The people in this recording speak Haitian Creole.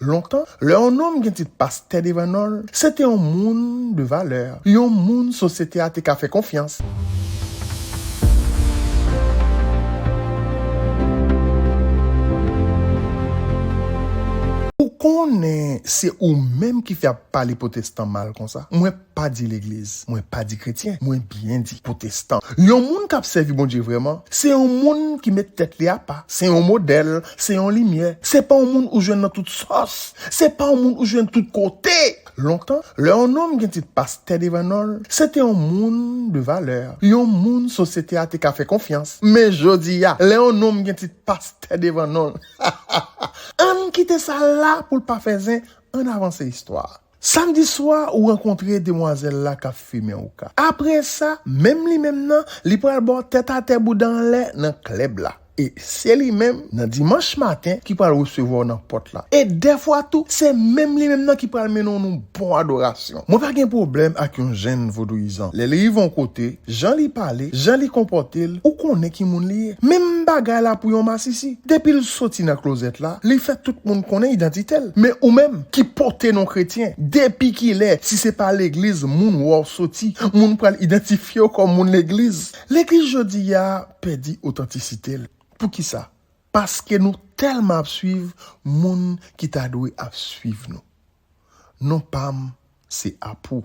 Lontan, lè yon nonm gen tit pastè devan non l, se te yon moun de valè, yon moun sosyete a te ka fè konfyans. Ou konnen se ou menm ki fè y ap pale pwotestan mal konsa? Mwen. pa di legliz, mwen pa di kretyen, mwen byen di potestan. Yon moun k'ap sèvi Bondye vrèman, se yon moun ki met tèt li apa, se yon modèl, se yon limyè. Se pa yon moun ou jwenn nan tout sòs, se pa yon moun ou jwenn tout kote. Lontan, lè yon nonm gen tit pastè devan non l, se te yon moun de valè, yon moun sosyete a te ka fè konfyans. Men jodi a, lè yon nonm gen tit pastè devan non l, ha ha ha! Ann kite sa la pou l pa fè zen, ann avanse istwa a. Samdi swa ou rankontre demwazèl la kap fimen houka. Apresa, menm li menm nan, li pral ba w tèt atè bouda anlè nan klèb la. E se li menm, nan dimanch maten, ki pral resevwa w nan pòt la. E dèfwa tou, se menm li menm nan ki pral mennen w nan yon bon adorasyon. Mwen pa gen pwoblèm ak yon jenn vodouyizan. Lè li rive yon kote, Jan li pale, jan li konpòte l, ou konnen ki moun li ye. Menm bagay la pou yon masisi. Depi l soti nan klozèt la, li fè tout moun konnen idantite l. Men ou menm, ki pote non kretyen, depi ki lè, si se pa legliz moun wè w soti, moun pral idantifye w kòm moun legliz? Legliz jodi a pèdi otantisite l. Pou ki sa? Paske nou tèlman ap suiv moun ki ta dwe ap suiv nou. Non pa m se Apou.